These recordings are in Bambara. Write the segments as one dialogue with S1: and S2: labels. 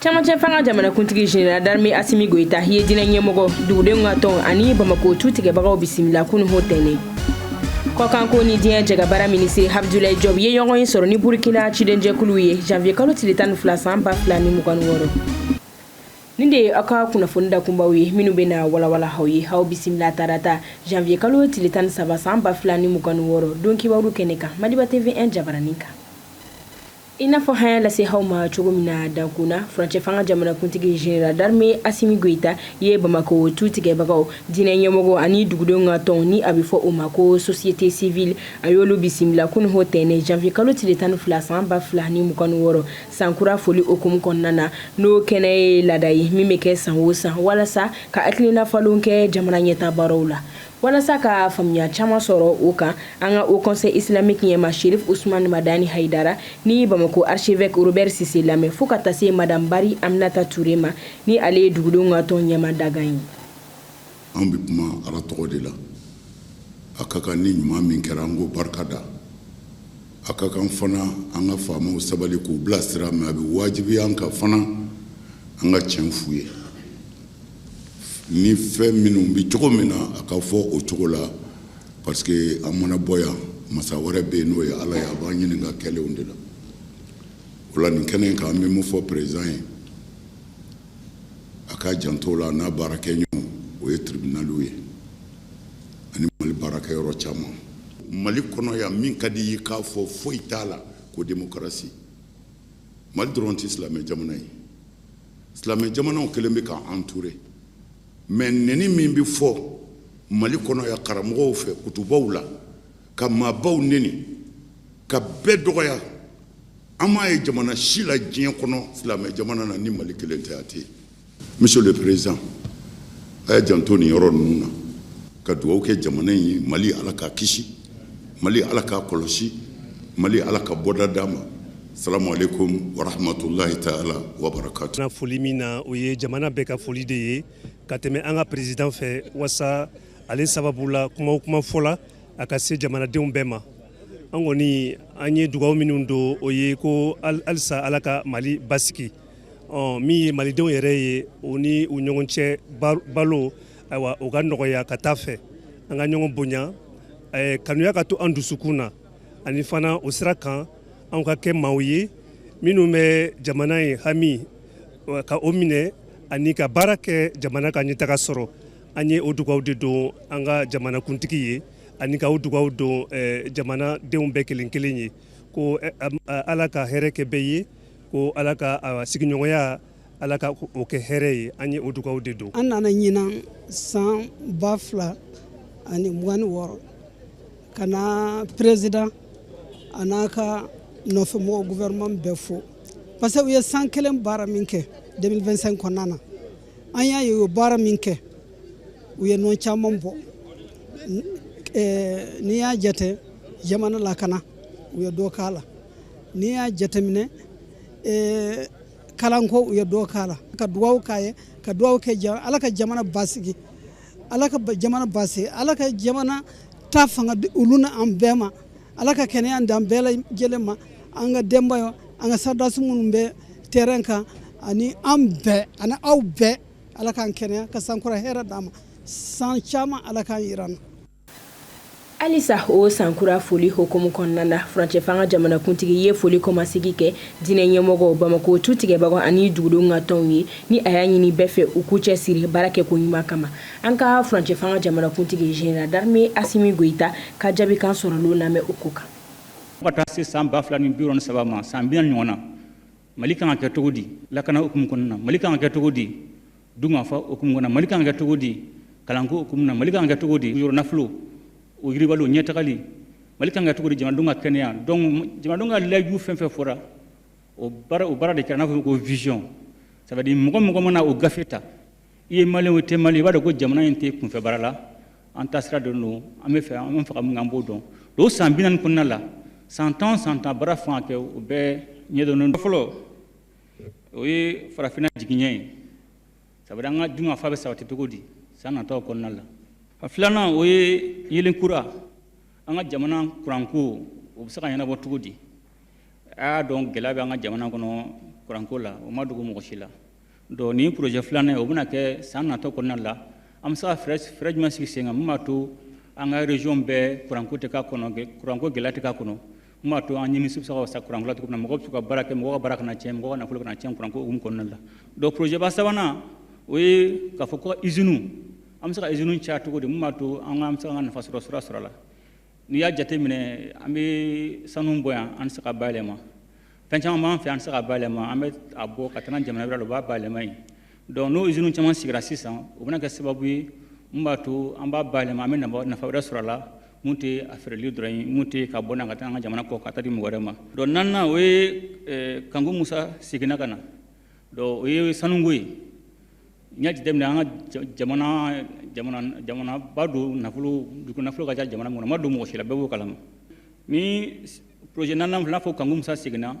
S1: camancɛ fanga jamanakuntigi jeneral darme asimi goyita ye diinɛ ɲɛmɔgɔ dugudenw ka tɔn ani bamako tu tigɛbagaw bisimila kunun ntɛnɛn kɔkanko ni diɲɛ jɛkabaara minisiri abdulayi jɔb ye ɲɔgɔn ye sɔrɔ ni burkina cidenjɛkuluw ye janvier kalo tile tan ni fila san ba fila ni mugan ni wɔɔrɔ nin de ye aw ka kunnafoni dakunbaw ye minnu bɛna walawala aw ye aw bisimila tarata janvier kalo tile tan ni saba san ba fila ni mugan ni wɔɔrɔ don kibaru kɛnɛ kan madiba tv 1 jabaranin kan I n'a fɔ an y'a lase aw ma cogo min na dankun na furancɛ fanga jamanakuntigi jeneral darme asimi goyita ye bamakɔ tu tigɛbagaw diinɛ ɲɛmɔgɔ ani dugudenw ka tɔn ni a bɛ fɔ o ma ko société civile a y'olu bisimila kunun ntɛnɛn janvier kalo tile tan ni fila san ba fila ni mugan ni wɔɔrɔ sankura foli hukumu kɔnɔna na n'o kɛnɛ ye laada ye min bɛ kɛ san o san walasa ka hakilinafalenw kɛ jamana ɲɛtaabaaraw la Walasa ka faamuya caman sɔrɔ o kan an ka haut conseil islamique ɲɛmaa serifu usmani madani hayidara ni bamakɔ archevêque robert sise lamɛn fo ka taa se madamu bari aminata ture ma ni ale ye dugudenw ka tɔn ɲɛmaa dankan ye
S2: an bɛ kuma ala tɔgɔ de la a ka kan ni ɲuman min kɛra an k'o barika da a ka kan fana an ka faamaw sabali k'u bilasira mais a bɛ wajibiya an kan fana an ka tiɲɛ f'u ye ni fɛn minnu bɛ cogo min na a ka fɔ o cogo la parce que an mana bɔ yan masa wɛrɛ bɛ yen n'o ye ala ye a b'an ɲininka kɛlenw de la o la nin kɛnɛ in kan an bɛ mun fɔ peresidan ye a k'a janto a la n'a baarakɛɲɔgɔn o ye tiribinaliw ye ani mali baarakɛyɔrɔ caman mali kɔnɔ yan min ka di i ye k'a fɔ foyi t'a la ko demokarasi mali dɔrɔn tɛ silamɛ jamana ye silamɛ jamanaw kɛlen bɛ k'an entourer mais neni min bɛ fɔ mali kɔnɔ yan karamɔgɔw fɛ kutubaw la ka maabaw neni ka bɛɛ dɔgɔya an m'a ye jamana si la diɲɛ kɔnɔ silamɛ jamana na ni mali kelen tɛ a tɛ yen monsieur le président a y'a janto nin yɔrɔ ninnu na ka dugawu kɛ jamana in ye mali ala k'a kisi mali ala k'a kɔlɔsi mali ala ka bɔda d'a ma salamu aleykum warahamatulahi taala wabarakatu foli min na o
S3: ye jamana bɛɛ ka foli de ye ka tɛmɛ an ka peresidan fɛ wasa ale sababu la kuma o kuma fɔla a ka se jamanadenw bɛɛ ma an kɔni an ye dugaw minnu don o ye ko halisa ala ka mali basigi ɔ min ye malidenw yɛrɛ ye o ni u ɲɔgɔn cɛ balo ayiwa o ka nɔgɔya ka taa fɛ an ka ɲɔgɔn bonya kanuya ka to an dusukun na ani fana o sira kan an ka kɛ maaw ye minnu bɛ jamana ye hami ka o minɛ ani ka baara kɛ jamana ka ɲɛtaga sɔrɔ an ye o dugawu de don an ka jamanakuntigi ye ani ka o dugawu don jamanadenw bɛɛ kelen kelen ye ko ala ka hɛrɛ kɛ bɛɛ ye ko ala ka sigiɲɔgɔnya ala ka o kɛ hɛrɛ ye an ye o dugawu de don an nana
S4: ɲinan san ba fila ani mugan ni wɔɔrɔ ka na perezidan a n'a ka nɔfɛmɔgɔ guvɛrɛnman bɛɛ fo parce que u ye san kelen baara min kɛ 2025 kɔnɔna na an y'a ye u ye baara min kɛ u ye nɔ caman bɔ eh, n'i y'a jate jamana lakana u ye dɔ k'a la n'i y'a jateminɛ eh, kalanko u ye dɔ k'a la ka dugawu k'a ye ka dugawu kɛ ala ka jamana basigi ala ka jamana basigi ala ka jamana ta fanga olu na an bɛɛ ma ala ka kɛnɛya d'an bɛɛ lajɛlen ma an ka denbayaw an ka sɔrɔdasi minnu bɛ terɛn kan ani an bɛɛ ani aw bɛɛ ala k'an kɛnɛya ka sankura hɛrɛ d'an ma san caman ala k'a yira an na
S1: halisa o sankura foli hukumu kɔnɔna na furancɛfanga jamanakuntigi ye foli kɔmasegin kɛ diinɛ ɲɛmɔgɔw bamakɔ tu tigɛbagaw ani dugudenw ka tɔnw ye ni a y'a ɲini bɛɛ fɛ u k'u cɛ siri baara kɛ ko ɲuman kama an ka furancɛfanga jamanakuntigi général d'armée asimi goyita ka jaabikan sɔrɔlen lamɛn o ko kan ka taa se
S5: san 2063 ma san bi naani ɲɔgɔn na mali kan ka kɛ cogo di lakana hukumu kɔnɔna na mali kan ka kɛ cogo di dunkafa hukumu kɔnɔna na mali kan ka kɛ cogo di kalanko hukumu na mali kan ka kɛ cogo di yɔrɔ nafolo o yiriwali ɲɛtagali mali kan ka kɛ cogo di jamanadenw ka kɛnɛya donc jamanadenw ka layidu fɛn fɛn fɔra o baara de kɛra n'a fɔ ko vision ça veut dire mɔgɔ mɔgɔ mana o gafe ta i ye maliyɛn wo i tɛ maliyɛn i b'a dɔn ko jamana in tɛ kunfɛ baara la an taasira dɔnnen don an bɛ fɛ ka taga min an b'o dɔn o san bi naani kɔnɔna la san tan san tan baara kan ka kɛ o bɛɛ ɲɛdɔnnen fɔlɔ o ye farafinna jiginɛ ye ça veut dire an ka dunkafa bɛ sabati cogo di san nataw kɔnɔna la a filanan o ye yeelen kura an ka jamana kuranko o bɛ se ka ɲɛnabɔ cogo di a y'a dɔn gɛlɛya bɛ an ka jamana kɔnɔ kuranko la o ma dogo mɔgɔ si la Donc ni projet filanan o bɛna kɛ san nataw kɔnɔna la an bɛ se ka fɛɛrɛ jumɛn sigi sen kan min b'a to an ka région bɛɛ kuranko tɛ kuranko gɛlɛya tɛ kɛ a kɔnɔ min b'a to an ɲɛ susa sa kuranko tuguni na mɔgɔ ka se ka baara kɛ mɔgɔ baara kana na cɛn mɔgɔ nafolo kana na cɛn kuranko kɔnɔna la donc projet ba sabanan o ye ka fɔ ko izini an bɛ se ka izini caya cogo di min b'a to an ka ka nafa sɔrɔ sira sɔrɔ la n'i y'a jateminɛ an bɛ sanu bɔ yan an tɛ se k'a bayɛlɛma fɛn caman b'an fɛ an tɛ se k'a bayɛlɛma an bɛ a bɔ ka taa jamana wɛrɛ la u b'a bayɛlɛma yen donc n'o usines caman sigira sisan o bɛna kɛ sababu ye mun b'a to an b'a bayɛlɛma an bɛ nafa wɛrɛ sɔrɔ a la mun tɛ a feereli dɔrɔn ye mun tɛ ka bɔ na ka taa an ka jamana kɔ ka taa di mɔgɔ wɛrɛ ma donc naaninan o ye eh, kanku musa seginna ka na donc o ye sanuko ye n'i y'a jateminɛ an ka jamana jamana jamanaba don nafolo dugu nafolo ka ca jamana mun na ma dogo mɔgɔ si la bɛɛ b'o kalama ni Projet naaninan filɛ, i n'a fɔ Kanku Musa seginna,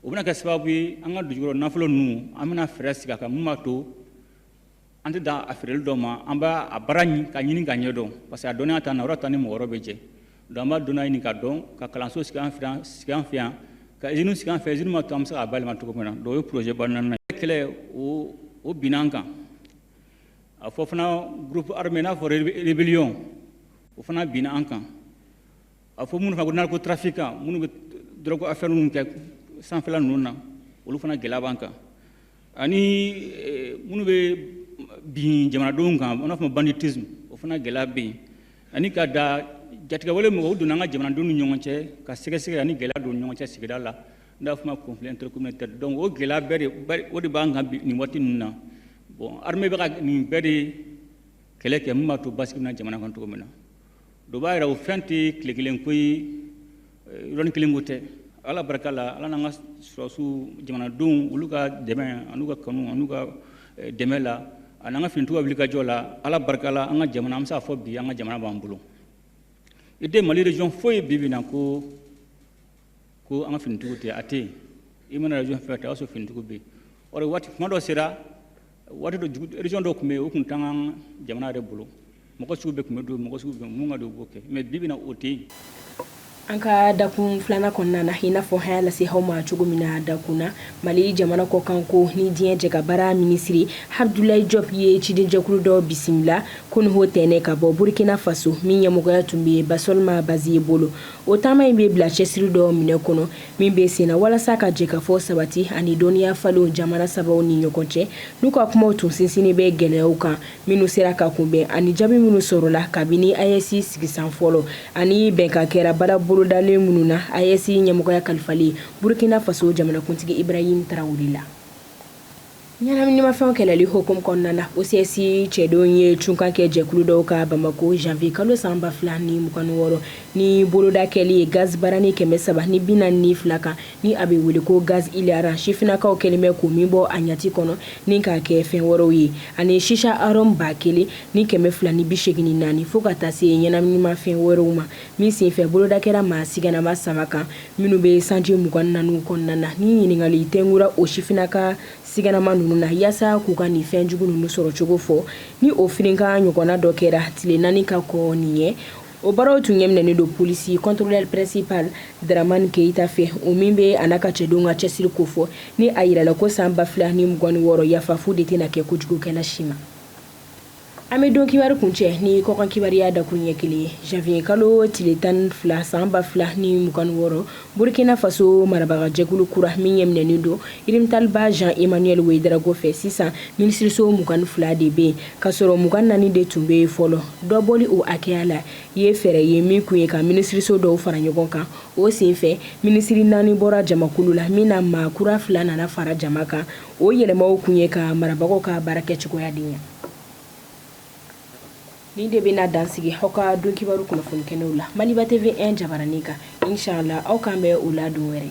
S5: o bɛna kɛ sababu ye an ka dugujukɔrɔ nafolo ninnu, an bɛna fɛɛrɛ sigi a kan min b'a to an tɛ dan a feereli dɔrɔn ma, an b'a a baara k'a ɲini k'a ɲɛdɔn parce que a dɔnniya t'an na, o de y'a to an ni mɔgɔ wɛrɛw bɛ jɛ. Donc an b'a dɔnniya ɲini k'a dɔn, ka kalanso sigi an fɛ yan, ka usine sigi an fɛ, usine min b'a to an bɛ se k'a bayɛlɛma cogo min na. Donc o ye projet ba naaninan ye. Kɛlɛ o o binna an kan. A fɔ fana groupe armé i n'a fɔ rébellion o fana binna an kan. a fɔ minnu fana ko narcotrafiquants minnu bɛ dɔrɔgu affaire ninnu kɛ sanfɛla ninnu na olu fana gɛlɛya b'an kan ani eh, minnu bɛ bin jamanadenw kan an b'a fɔ banditisme o fana gɛlɛya bɛ yen ani ka da jatigɛwale mɔgɔw donna an ka jamanadenw ni ɲɔgɔn cɛ ka sɛgɛn ani gɛlɛya don ɲɔgɔn cɛ sigida la n'a fɔ ma conflit intercommunautaire donc o gɛlɛya bɛɛ de o de b'an kan nin waati ninnu na bon armée bɛ ka nin bɛɛ de kɛlɛ kɛ min b'a to basigi na jamana kan cogo min na donc o b'a yira o fɛn tɛ tile kelen ko ye yɔrɔnin kelen ko tɛ ala barika la ala n'an ka sɔrɔdasiw jamanadenw olu ka dɛmɛ an'u ka kanu an'u ka eh, dɛmɛ la an'an ka finitigiw ka wulikajɔ la ala barika la an ka jamana an bɛ se k'a fɔ bi an ka jamana b'an bolo i tɛ mali région foyi ye bi bi na ko ko an ka finitigiw tɛ a tɛ yen i mana région fɛn ta i b'a sɔrɔ finitigiw bɛ yen or waati kuma dɔ sera waati dɔ jugu région dɔ tun bɛ yen o tun t'an ka jamana yɛrɛ bolo mɔgɔ sugu bɛɛ tun bɛ don mɔgɔ sugu bɛɛ mun ka di o b'o kɛ mais bi bi na o tɛ yen an ka
S1: dakun filanan kɔnɔna na i n'a fɔ an y'a lase aw ma cogo min na dakun na mali jamana kɔkanko ni diɲɛ jɛkabaara minisiri abdulayi jɔp ye cidenjɛkulu dɔ bisimila kunun ntɛnɛn ka bɔ burukina faso min ɲɛmɔgɔya tun bɛ basɔlima baziye bolo O taama in bɛ bila cɛsiri dɔ minɛn kɔnɔ min bɛ sen na walasa ka jɛkafɔ sabati ani dɔnniya falenw jamana sabaw ni ɲɔgɔn cɛ n'u ka kumaw tun sinsinnen bɛ gɛlɛyaw kan minnu sera ka kunbɛn ani jaabi minnu sɔrɔla kabini ayɛsi sigisan fɔlɔ ani bɛnkan kɛra baara bolodalen minnu na ayɛsi ɲɛmɔgɔya kalifalen burukina faso jamanakuntigi ibrahim tarawele la Ɲɛnaminimafɛnw kɛlɛli hukumu kɔnɔna na OCS cɛdenw ye cunkan kɛ jɛkulu dɔw kan Bamako janvier kalo san 2026 ni boloda kɛli ye gaz barani 342 kan, ni a bɛ wele ko gaz hilarant, sifinnakaw kɛlen bɛ ka min bɔ a ɲɛci kɔnɔ ni k'a kɛ fɛn wɛrɛw ye, ani shisha arôme 1000 ni 284 fo ka taa se ɲɛnaminimafɛn wɛrɛw ma, min senfɛ boloda kɛra maa sigannama saba kan. minnu bɛ sanji mugan ni naani kɔnɔna na ni ɲininkali tugura o sifinna ka siganama ninnu na yaasa k'u ka nin fɛn jugu ninnu sɔrɔ cogo fɔ ni o firinkan ɲɔgɔnna dɔ kɛra tile naani ka kɔn nin ɲɛ o baaraw tun ɲɛminɛnen don polisi contrôleur principal dramani keyita fɛ o min bɛ a n'a ka cɛdenw ka cɛsiri kofɔ ni a jirala ko san ba fila ni mugan ni wɔɔrɔ yafa fu de tɛna kɛ kojugukɛla si ma An bɛ don kibaru kuncɛ ni kɔkan kibaruya dakuruɲɛ kelen ye janviye kalo tile tan fila san ba fila ni mugan wɔɔrɔ burukina faso marabagajɛkulu kura min ɲɛminɛnen don Rimtalba Jean Emmanuel Ouédraogo fɛ sisan minisiriso mugan ni fila de bɛ yen k'a sɔrɔ mugan naani de tun bɛ yen fɔlɔ dɔbɔli o hakɛya la ye fɛɛrɛ ye min kun ye ka minisiriso dɔw fara ɲɔgɔn kan o senfɛ minisiriri naani bɔra jamakulu la min na maa kura fila nana fara jama kan o yɛlɛmaw kun ye ka marabagaw ka baarakɛcogoya de ɲa Nin de bɛna dan sigi aw ka don kibaru kunnafoni kɛnɛw la Maliba TV1 jabaranin kan inshallah aw k'an bɛn u la don wɛrɛ